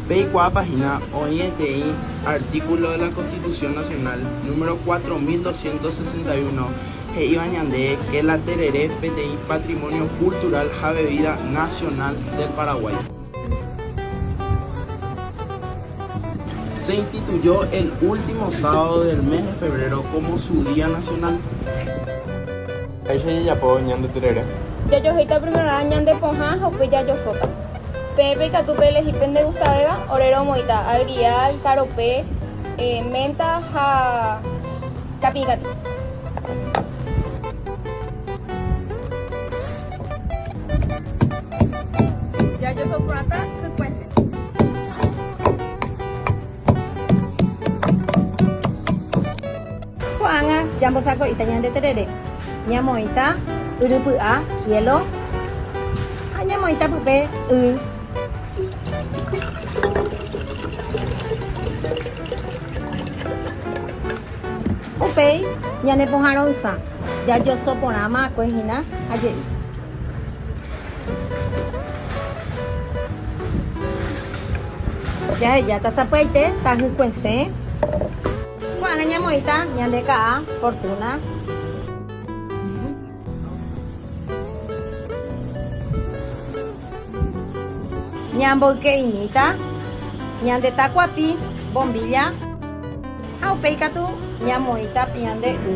Peikuaápa hína oĩ eteĩ artíkulo de la Constitución Nacional número 4261 he'íva ñande ke la terere peteĩ patrimonio cultural ha bebida nacional del Paraguay. Se instituyó el último sábado del mes de febrero como su día nacional. Péicha jajapo ñande terere. Jajohéita primerorã ñande pohã ha upéi jajosóta. Peẽpe ikatu peelehi pende gustavéva, orero omoĩta agrial, karope, menta ha kapĩi katu. Jajoso porãta hykue. Ko'ág̃a ñambosako'íta ñande terere, ñamoĩta yry py'a, cielo, ha ñamoĩta pype y. Upéi ñane pohã ro'ysã jajoso porã ma'akue hína ha je'i. Jahejáta sapy'aite tajykuesẽ. Ko'ág̃a ñamoĩta ñande ka'a fortuna. Ñamboyke'imíta ñande takuapi, bombilla, ha upéi katu ñamoĩta piã nde y.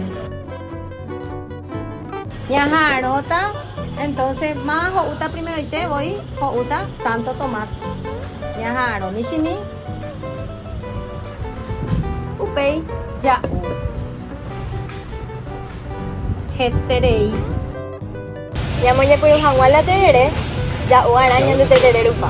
Ñaha'arõta entonce ma ho'úta primeroite voi ho'úta Santo Tomás. Ñaha'arõ michĩmi, upéi ja'u. heterei. Ñamoñepyrũ hag̃ua la terere, ja'u arã ñande terere rupa.